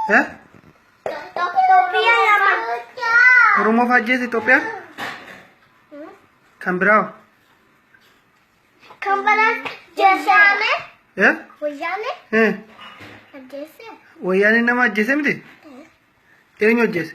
Eh? Oromoof ajjeese Itoophiyaan? Kan biraa hoo? Kan baraa jeesaame Eh? wayyaane Eh? ajjeese. Wayyaaneen nama ajjeese miti? Eenyu ajjeese?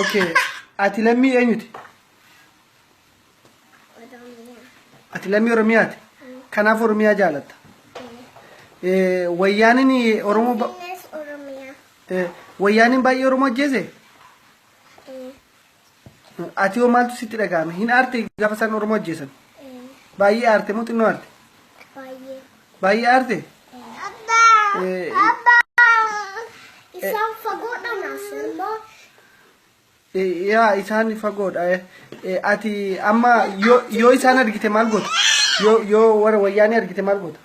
Okay. Ati lammii eenyuti? Ati lammii Oromiyaati. Kanaaf Oromiyaa jaalatta. Eh, Wayyaaniin Oromoo ba- Yes, Oromia. eh, Wayyaaniin baay'ee Oromoo ajjeese? Eh, Ati hoo maaltu sitti dhaga'ame? Hin aarte gaafa isaan Oromoo ajjeesan? eh, Baay'ee aarte moo xinnoo aarte? Baay'ee aarte. Abbaa isaan fagoodha naasuu immoo Yaa isaan fagoodha. Eh, eh, Ati amma yoo yoo isaan argite maal goota? Yoo yoo warra wayyaanee argite maal goota?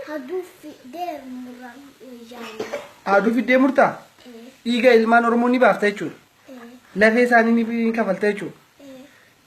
haduu fidee muraan wayyaanee. Haaduu fiddee murtaa? Dhiiga ilmaan Oromoo ni baafta jechuudha. Lafee isaanii ni kafalta jechuudha.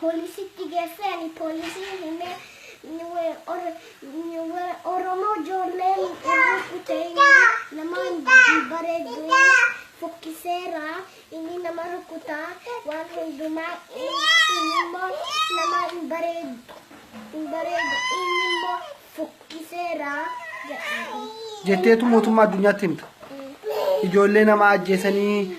Poolisitti geessee ani poolisiin himee Oromoo ijoolleen rukkute nama hin bareeddu fokkiseera inni nama rukkuta waan hundumaa inni immoo nama hin bareeddu hin bareeddu inni immoo fokkiseera jedhanii. Jetteetu mootummaa addunyaatti himta. Ijoollee nama ajjeesanii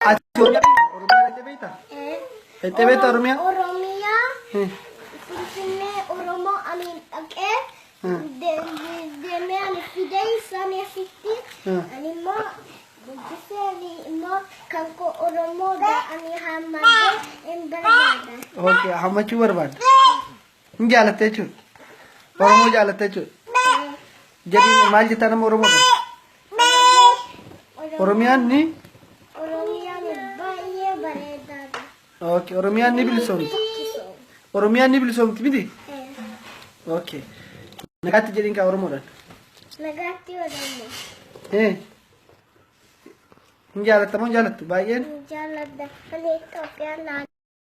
Ati Oromiyaa dhaqxee beektaa? Dhaqxee beektaa Oromiyaa? Oromiyaa Finfinnee Oromoo amiin dhaqee deemee ani fidee isaan asitti ani immoo guddisee ani immoo kan koo Oromoo ani hammadee hin barbaada. Ok, hammachuu barbaadda. Hin jaalatte jechuudha. Oromoo jaalatte jechuudha. Jedhiin maal jettaa nama Oromoo dha? Oromiyaan ni Oromiyaan baay'ee bareedaadha. okay. Oromiyaan ni bilisoomti. Tokkisoom. Oromiyaan ni bilisoomti miti? Eh, Okay. Nagaatti jedhiin kaa Oromoodhaan. Nagaatti Oromoo. Eh. Hin jaalatta moo hin jaalattu baay'een? Jaalladha. Ani Itoophiyaan